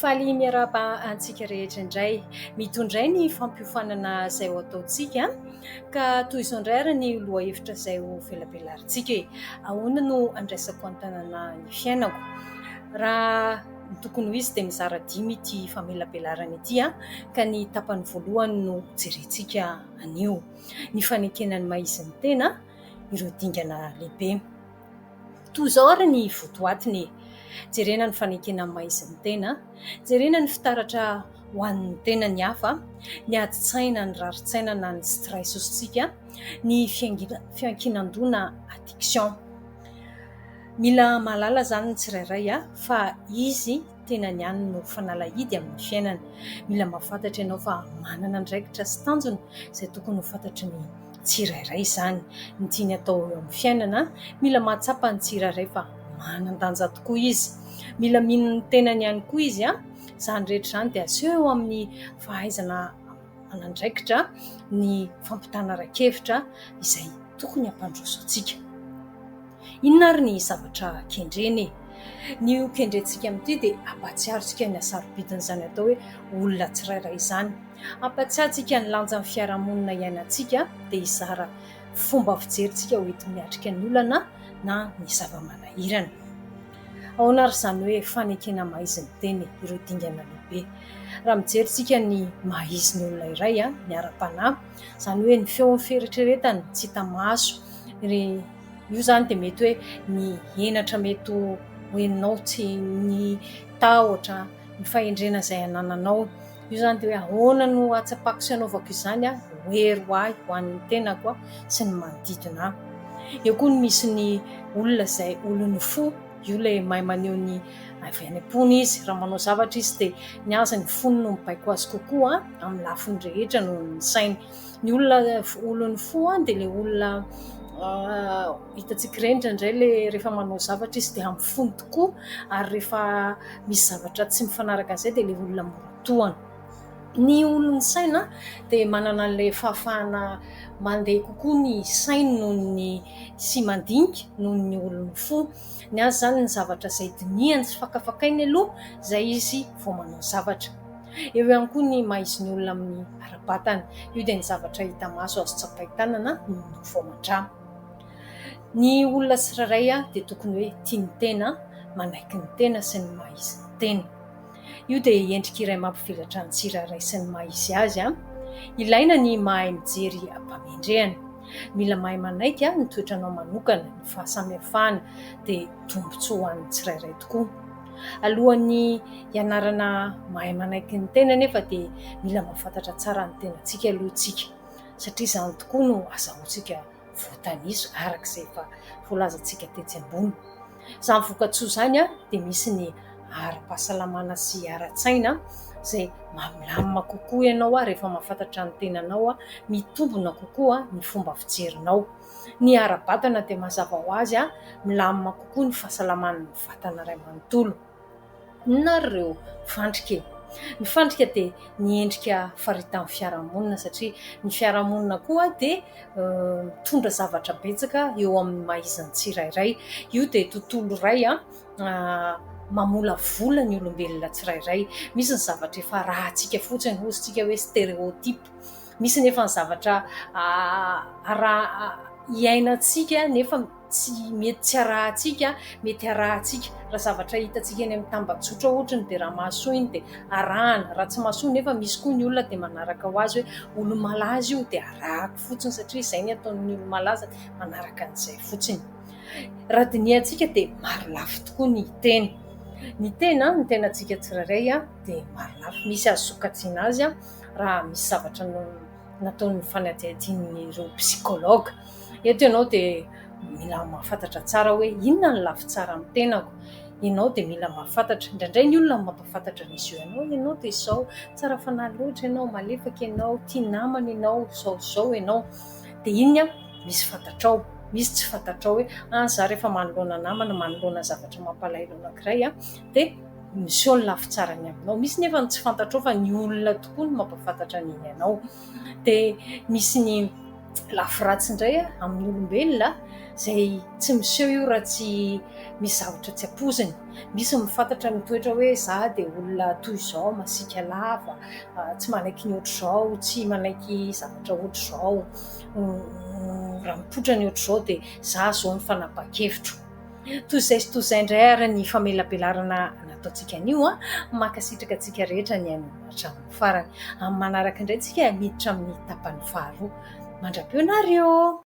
Faly miarahaba antsika rehetra indray. Mitohy indray ny fampiofanana izay ho ataontsika ka toy izao indray ary ny lohahevitra izay ho velabelarintsika e ! Ahoana no andraisako an-tanana ny fiainako ? Raha ny tokony ho izy dia mizara dimy ity famelabelarana ity ka ny tapany voalohany no hojerentsika anio. Ny fanekena ny maha izy ny tena ireo dingana lehibe. Toa izao ary ny votoatiny e! Jerena ny fanekena maizin'ny tena, jerena ny fitaratra ho an'ny tena ny hafa, ny adin-tsaina, ny rarin-tsaina na ny stress osotsika, ny fiankinan-dohana, addiction. Mila mahalala izany ny tsirairay fa izy tenany ihany no fanalahidy amin'ny fiainana. Mila mahafantatra ianao fa manana andraikitra sy tanjona izay tokony ho fantatry ny hafa. tsirairay izany. Ny tiany atao eo amin'ny fiainana, mila mahatsapa ny tsirairay fa manan-danja tokoa izy. Mila mino ny tenany ihany koa izy. Izany rehetra izany dia aseho eo amin'ny fahaizana manandraikitra ny fampitana ara-kevitra izay tokony hampandroso antsika. Inona ary ny zavatra kendreny e? Ny ho kendrentsika amin'ity dia hampatsiarontsika ny hasarobidin'izany atao hoe olona tsirairay izany. Hampatsiahintsika ny lanjan'ny fiarahamonina iainantsika dia hizara fomba fijerintsika ho entin'ny miatrika ny olana na ny zava-manahirana. Ahoana ary izany hoe fanekena maha izy ny teny ireo dingana lehibe? Raha mijery tsika ny maha izy ny olona iray, ny ara-panahy, izany hoe ny feony fieritreretany tsy hita maso, Io izany dia mety hoe ny henatra mety ho henonao tsy ny tahotra, ny fahendrena izay anananao. Io izany dia hoe ahoana no ahatsapako sy anaovako izany aho ho hery ho ahy, ho an'ny tenako aho sy ny manodidina ahy. Eo koa ny misy ny olona izay olon'ny fo, io ilay mahay maneho ny avy any am-pony izy. Raha manao zavatra izy dia ny azy ny fony no mibaiko azy kokoa amin'ny lafiny rehetra noho ny sainy. Ny olona olon'ny fo dia ilay olona hitantsika ireny indraindray ilay rehefa manao zavatra izy dia amin'ny fony tokoa ary rehefa misy zavatra tsy mifanaraka an'izay dia ilay olona mora tohana. Ny olon'ny saina dia manana an'ilay fahafahana mandeha kokoa ny sainy noho ny sy mandinika noho ny olon'ny fo. Ny azy izany ny zavatra izay dinihany sy fakafakainy aloha izay izy vao manao zavatra. Eo ihany koa ny maha izy ny olona amin'ny ara-batany. Io dia ny zavatra hita maso azo tsapain-tanana no no vao mandrama. Ny olona tsirairay dia tokony hoe tia ny tena, manaiky ny tena sy ny maha izy ny tena. Io dia endrika iray mampivelatra ny tsirairay sy ny maha izy azy. Ilaina ny mahay mijery am-pamendrehana. Mila mahay manaiky ny toetranao manokana. Ny fahasamihafana dia tombontsoa ho an'ny tsirairay tokoa. Alohan'ny hianarana mahay manaiky ny tena anefa dia mila mahafantatra tsara ny tenantsika aloha isika satria izany tokoa no azahoantsika voataniso araka izay efa voalazantsika tetsy ambony. Izany voka-tsoa izany dia misy ny ara-pahasalamana sy ara-tsaina izay mamilama kokoa ianao rehefa mahafantatra ny tenanao, mitombina kokoa ny fomba fijerinao. Ny ara-batana dia mazava ho azy, milamina kokoa ny fahasalaman'ny vatana iray manontolo. Inona ary ireo fandrika e? Ny fandrika dia ny endrika faritan'ny fiarahamonina satria ny fiarahamonina koa dia mitondra zavatra betsaka eo amin'ny maha izy ny tsirairay. Io dia tontolo iray mamolavola ny olombelona tsirairay. Misy ny zavatra efa rahantsika fotsiny, hoy isika hoe stéréotype. Misy anefa ny zavatra iainantsika nefa mety tsy arahantsika, mety arahantsika. Raha zavatra hitantsika eny amin'ny tambajotra ohatra ny dia raha mahasoa iny dia arahana, raha tsy mahasoa nefa misy koa ny olona dia manaraka ho azy hoe olo-malaza io dia arahako fotsiny satria izay ny ataon'ny olo-malaza, manaraka an'izay fotsiny. Raha dinihantsika dia marolafy tokoa ny tena. Ny tena, ny tenantsika tsirairay dia marolafy, misy azo sokajiana azy. raha misy zavatra nataony fanadihadian'ireo psychologue. Eto ianao dia mila mahafantatra tsara hoe inona ny lafy tsara amin'ny tenako. Ianao dia mila mahafantatra. Indraindray ny olona mampafantatra ny zo anao, ianao dia izao, tsara fanahy loatra ianao, malefaka ianao, tia namana ianao, izao izao ianao. Dia iny aho, misy fantatrao, misy tsy fantatrao hoe ah za rehefa manoloana namana, manoloana zavatra mampalahelo anankiray aho dia Misy olona hafitsara ny aminao. Misy nefa ny tsy fantatrao fa ny olona tokoa no mampafantatra ny ny anao. Dia misy ny lafy ratsy indray amin'ny olombelona izay tsy miseho io raha tsy misy zavatra tsy ampoizina. Misy mifantatra ny toetra hoe za dia olona toy izao, masiaka lava, tsy manaiky ny ohatr'izao, tsy manaiky zavatra ohatr'izao, raha mipoitra ny ohatr'izao dia za izao ny fanapahan-kevitro. Toy izay sy toy izay indray ary ny famelabelarana nataontsika anio an. Mankasitraka antsika rehetra nihaino hatramin'ny farany. Amin'ny manaraka indray isika miditra amin'ny tapany faharoa. Mandra-peo nareo.